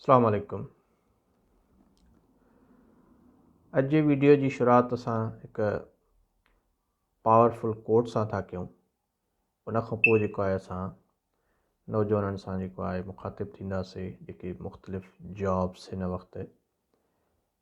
السلام عليڪم اڄ جي ويڊيو جي شروعات اسان هڪ پاورفل ڪوٽ سان ٿا ڪيون ان کان پوء جيڪو آهي اسان نوجوانن سان جيڪو آهي مخاطب ٿينداسي جيڪي مختلف جابس هن وقت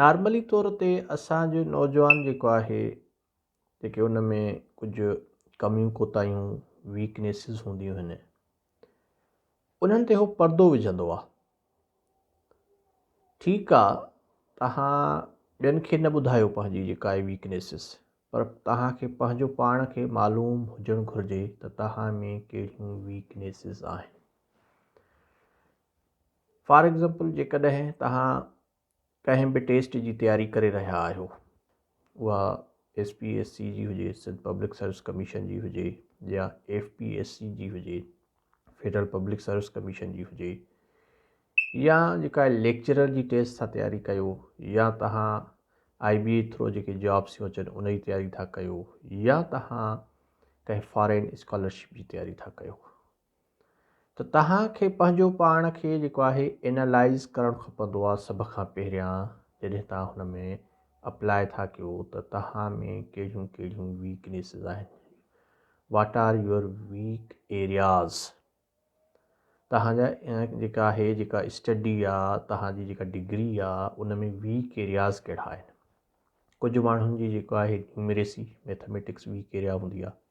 نارملي طور تي اسانجو نوجوان جيڪو آهي جيڪي ان ۾ ڪجهه ڪميون ڪوتاهيون ويڪنيسز هونديون آهن انهن تي هو پردو وجهندو آهي ٺيڪ آهي توهان ٻين کي نه ٻڌايو پنهنجي جيڪا آهي ويڪنيسز پر توهان کي پنهنجو پاڻ کي معلوم هجڻ گهرجي ته توهان ۾ ڪهڙيون ويڪنيسز آهن فار ايگزامپل جيڪڏهن توهان ڪنهن به ٽيسٽ جي تياري ڪري رهيا آهيو اها ايس پي ايس سی جي هجي سنڌ پبلڪ سروس ڪميشن جي هجي يا ايف پي ايس سی جي هجي فيڊرل پبلڪ سروس ڪميشن جي هجي يا جيڪا ليڪچرر جي ٽيسٽ ٿا تياري ڪيو يا توهان آئي بي اي ٿرو جيڪي جابس ٿيون اچن ان جي تياري ٿا ڪيو يا توهان ڪنهن فارين اسڪالرشپ جي تياري ٿا ڪيو ته توهان کي پنهنجو پاڻ کي جيڪو آهي Analyze ڪرڻ کپندو آهي سڀ کان پهريان جڏهن توهان هن ۾ اپلاء ٿا ڪيو ته توهان ۾ ڪهڙيون ڪهڙيون ويڪنيسز آهن what are your weak areas توهان جا جيڪا آهي جيڪا اسٽڊي آهي توهان جي جيڪا ڊگري آهي ان ۾ ويڪ ايرياز ڪهڙا آهن ڪجهه ماڻهن جي جيڪو آهي نيومريسي ميٿامیٽڪس ويڪ ايريا هوندي آهي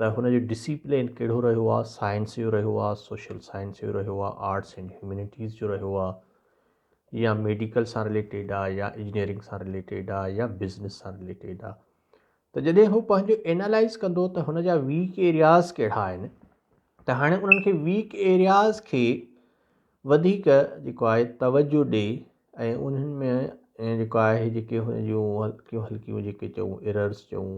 ته هن جو ڊسيپلين ڪهڙو رهيو آهي، سائنس جو رهيو آهي، سوشل سائنس جو رهيو آهي، آرٽس اينڊ هيومينٽيز جو رهيو آهي يا ميڊيڪل سان رليٽيڊ آهي يا انجنيئرنگ سان رليٽيڊ آهي يا بزنس سان رليٽيڊ آهي ته جڏهن هو پنهنجو اينالائز ڪندو ته هن جا ويڪ ايرياز ڪهڙا آهن ته هاڻي انهن کي ويڪ ايرياز کي وڌيڪ جيڪو آهي توجه ڏي ۽ انهن ۾ جيڪو آهي جيڪي هن جون هلڪيون هلڪيون جيڪي چئون ايررس چئون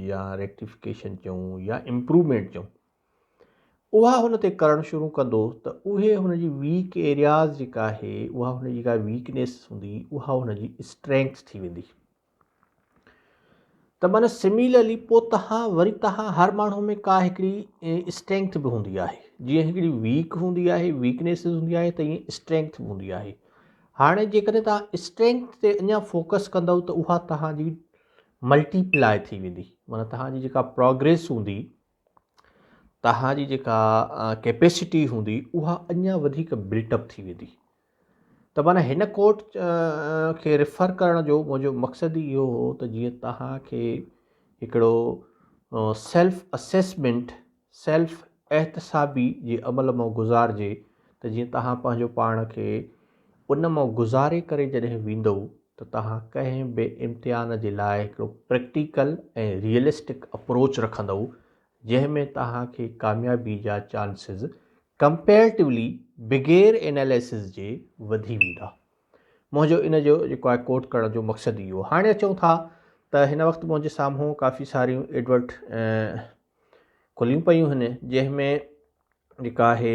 يا ريڪٽيفڪيشن چئون يا امپروومينٽ چئون اها هن تي ڪرڻ شروع ڪندو ته اهي هن جي ويڪ ايرياز جيڪا آهي اها هن جي ڪا ويڪنيس هوندي اها هن جي اسٽرينگس ٿي ويندي ته من سميلرلي پوء تها وري تها هر ماڻهو ۾ ڪا هڪڙي اسٽرينگٿ به هوندي آهي جيئن هڪڙي ويڪ هوندي آهي ويڪنيس هوندي آهي ته ائين اسٽرينگٿ به هوندي آهي هاڻي جيڪڏهن تها اسٽرينگٿ تي اڃا فوڪس ڪندو ته اها تها جي ملٽي پلاء ٿي ويندي معنيٰ تها جي جيڪا پروگريس هوندي توهان جي جيڪا ڪيپيسٽي هوندي اها اڃا وڌيڪ بلٽ اپ ٿي ويندي ته معنيٰ هن ڪورٽ کي ريفر ڪرڻ جو منهنجو مقصد ئي اهو هو ته جيئن توهان کي هڪڙو سيلف اسيسمنٽ سيلف احتسابي جي عمل مان گذارجي ته جيئن توهان پنهنجو پاڻ کي ان مان گذاري ڪري جڏهن ويندؤ ته توهان ڪنهن به امتحان جي لاء هڪڙو پريڪٽيڪل ۽ ريئلسٽڪ اپروچ رکندؤ جنهن ۾ توهان کي ڪاميابي جا چانسز ڪمپيريٽولي بغير اناليسز جي وڌي ويندا. منهنجو ان جو جيڪو آهي ڪوٽ ڪرڻ جو مقصد اهو هاڻي اچون ٿا ته هن وقت منهنجي سامهون ڪافي ساريون ايڊورٽ کليون پيون هن جنهن ۾ جيڪا آهي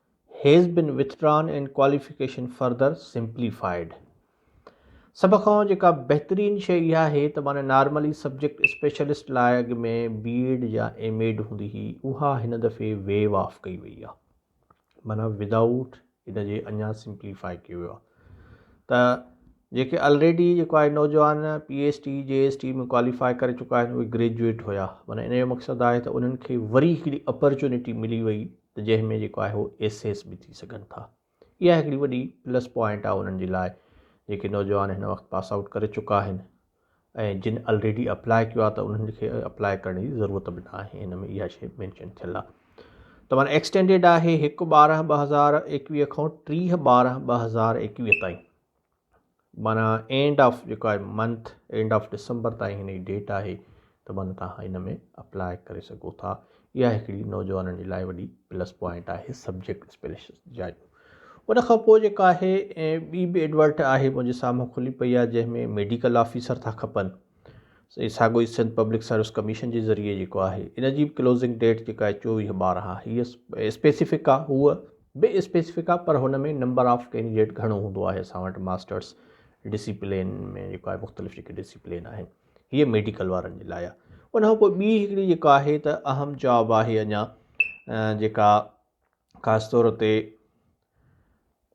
has been withdrawn and qualification further simplified سڀ کان جيڪا بهترين شيء اها آهي ته معني نارملي سبجيڪٽ اسپيشلسٽ لاء اڳ ۾ بي ايڊ يا ايم ايڊ هوندي هئي اها هن دفعي ويو آف ڪئي وئي آهي معني ود آئوٽ ان جي اڃا سمپليفائي ڪيو ويو آهي ته جيڪي آلريڊي جيڪو آهي نوجوان P S T J S T ۾ qualify ڪري چڪا آهن اهي گريجويٽ هيا معني ان جو مقصد آهي ته انهن کي وري هڪڙي اپرچونيٽي ملي وئي ته جنهن ۾ جيڪو آهي هو ايسيس به ٿي سگهن ٿا اها هڪڙي وڏي پلس پوائنٽ آهي انهن جي لاء جيڪي نوجوان هن وقت پاس آئوٽ ڪري چڪا آهن ۽ جن الريڊي اپلاء ڪيو آهي ته انهن کي اپلاء ڪرڻ جي ضرورت به نه آهي هن ۾ اها شي مينشن ٿيل آهي ته مانا ايڪسٽينڊيڊ آهي هڪ ٻارهن ٻه هزار ايڪويهه کان ٽيهه ٻارهن ٻه هزار ايڪويهه تائين معنيٰ اينڊ آف جيڪو آهي منٿ اينڊ آف ڊسمبر تائين هن جي ڊيٽ آهي ته معنيٰ توهان هن ۾ اپلاء ڪري سگهو ٿا اها هڪڙي نوجوانن جي لاء وڏي پلس پوائنٽ آهي سبجيڪٽ اسپيلشن جايون ان کان پوء جيڪا آهي ٻي به ايڊورٽ آهي منهنجي سامهون کلي پئي آهي جنهن ۾ ميڊيڪل آفيسر ٿا کپن سائين ساڳيو ئي سنڌ پبلڪ سروس ڪميشن جي ذريعي جيڪو آهي ان جي به ڪلوزنگ ڊيٽ جيڪا آهي چوويهه ٻارهن آهي هيء اسپيسيفڪ آهي هوء به اسپيسيفڪ آهي پر هن ۾ نمبر آف ڪينڊيڊيٽ گهڻو هوندو آهي اسان وٽ ماسٽرس ڊسيپلين ۾ جيڪو آهي مختلف جيڪي ڊسيپلين آهن هيء ميڊيڪل وارن جي لاء آهي ان کان پوء ٻي هڪڙي جيڪا آهي ته اهم جاب آهي اڃا جيڪا خاص طور تي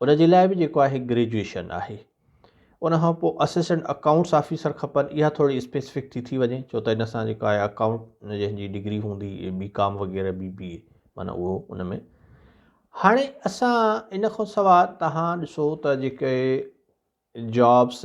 ان جي لاء به جيڪو آهي گريجوئيشن آهي ان کان پوء اسسٽنٽ اڪائونٽس آفيسر کپن اها ٿوري اسپيسفڪ ٿي ٿي وڃي ڇو ته ان سان جيڪو آهي اڪائونٽ جنهن جي ڊگري هوندي بي ڪام وغيره بي بي اي مانا اهو ان ۾ هاڻي اسان ان کان سواء تهان ڏسو ته جيڪي جابس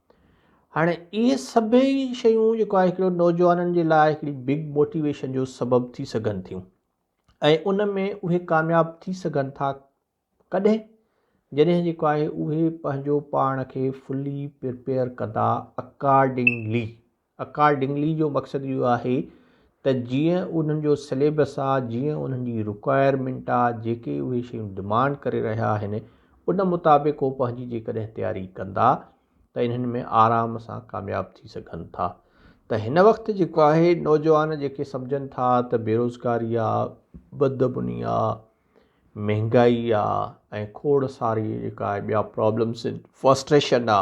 هاڻي اهي سڀئي شيون جيڪو آهي هڪڙو نوجوانن جي لاء هڪڙي بگ موٽيويشن جو سبب ٿي سگهن ٿيون ۽ ان ۾ اهي ڪامياب ٿي سگهن ٿا ڪڏهن جڏهن جيڪو آهي اهي پنهنجو پاڻ کي فلي پرپيئر ڪندا اڪارڊنگلي اڪارڊنگلي جو مقصد اهو آهي ته جيئن انهن جو سليبس آ جيئن انهن جي رڪوائرمينٽ آ جيڪي اهي شيون ڊمانڊ ڪري رهيا آهن ان مطابق هو پنهنجي جيڪڏهن تياري ڪندا ته انهن ۾ آرام سان ڪامياب ٿي سگهن ٿا ته هن وقت جيڪو آهي نوجوان جيڪي سمجهن ٿا ته بيروزگاري آ بدبني آ مهنگائي آ ۽ کوڙ ساري جيڪا آهي ٻيا پرابلمس فرسٽريشن آ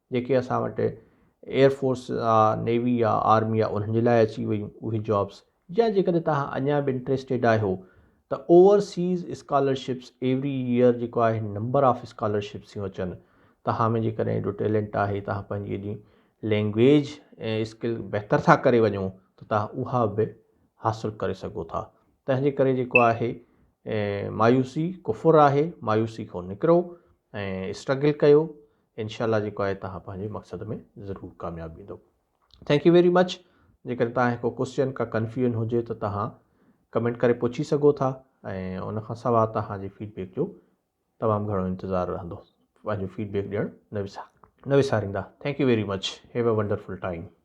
جيڪي اسان وٽ ايئر فورس آ نيوي آ آرمي آ انهن جي لاء اچي ويون اهي جابس يا جيڪڏهن توهان اڃا به انٽريسٽيڊ آهيو ته اوورسيز اسڪالرشپس ايوري ايئر جيڪو آهي نمبر آف اسڪالرشپس ٿيون اچن توهان ۾ جيڪڏهن ايڏو ٽيلنٽ آهي توهان پنهنجي ايڏي لينگويج ۽ اسڪل بهتر ٿا ڪري وڃو ته توهان اها به حاصل ڪري سگهو ٿا تنهن جي ڪري جيڪو آهي مايوسي ڪفر آهي مايوسي کان نڪرو ۽ اسٽرگل ڪيو انشاء الله جيڪو آهي توهان پنهنجي مقصد ۾ ضرور ڪامياب ويندو ٿينڪ يو ويري مچ جيڪڏهن توهان ڪو ڪوشچن ڪا ڪنفيوژن هجي ته توهان ڪمينٽ ڪري پڇي سگهو ٿا ۽ ان کان سواء توهان جي فيڊبيڪ جو تمام گهڻو انتظار رهندو پنهنجو فيڊبيڪ ڏيڻ نه وسار نه وساريندا thank you very much have a wonderful time